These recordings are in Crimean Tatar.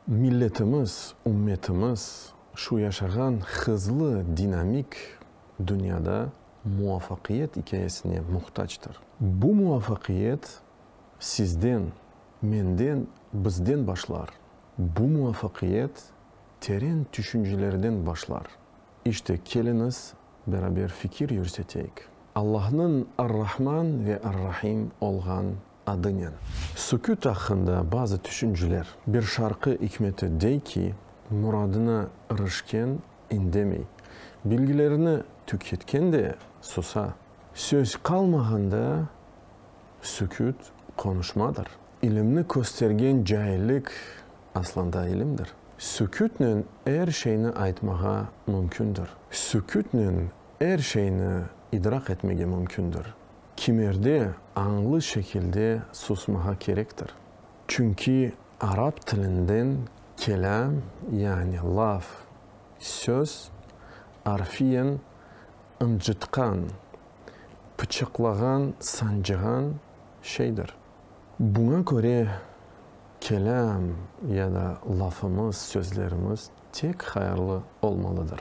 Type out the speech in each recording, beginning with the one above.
Milletimiz, ümmetimiz şu yaşağan hızlı, dinamik dünyada muvafaqiyet ikâyesine muhtactır. Bu muvafaqiyet sizden, menden, bizden başlar. Bu muvafaqiyet teren tüşüncelerden başlar. İşte, keliñiz, beraber fikir yürseteyik. Allahnıñ Ar-Rahman ve Ar-Rahim olğan adınen. Süküt aqqında bazı tüşünceler. Bir şarqı ikmeti dey ki, Muradına irişken indemey, bilgilerini tüketken de susa. Söz qalmağanda süküt qonuşmadır. İlimni köstergen caillik Aslında ilimdir. Sükütnen er şeyni aytmağa mümkündir. Sükütnen er şeyni idrak etmege mümkündir. Kimerde añlı şekilde susmağa kerektir. Çünki arap tilinden kelâm, yani laf, söz, arfiyen ıncıtqan, pıçıqlağan, sancığan şeydir. Buña köre, kelâm ya da lafımız, sözlerimiz tek hayırlı olmalıdır.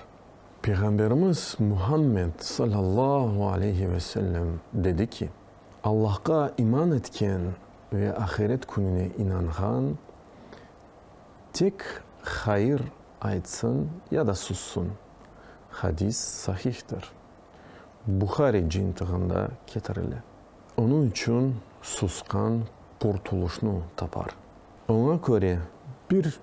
Peyğamberimiz Muhammed sallallahu aleyhi ve sellem dedi ki, Allahqa iman etken ve ahiret kününe inanğan tek hayır aytsın ya da sussun. Hadis sahihtir. Buhari cintığında ketirile. Onıñ içün susqan qurtuluşnı tapar. Oña köre, bir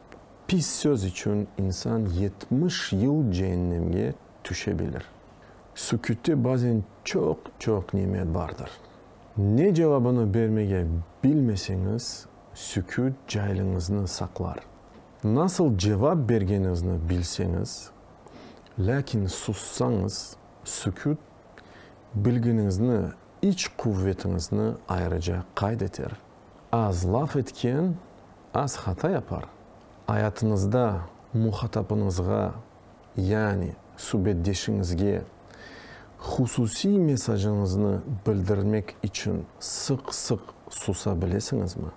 pis söz içün insan yetmiş yıl ceennemge tüşe bilir. Sükütte bazen çoq-çoq nemet bardır. Ne cevabını bermege bilmeseñiz, süküt cailiñizni saqlar. Nasıl cevap bergeniñizni bilseñiz, lâkin sussañız, süküt Bilginiñizni, iç quvvetiñizni ayrıca qayd eter. Az laf etken az hata yapar. Ayatıñızda muhatapıñızğa, yani subetdeşiñizge hususiy mesajıñıznı bildirmek içün sıq-sıq susa bilesiñizmi?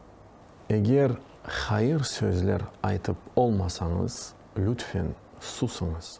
Eger hayır sözler aytıp olmasañız, lütfen, susıñız.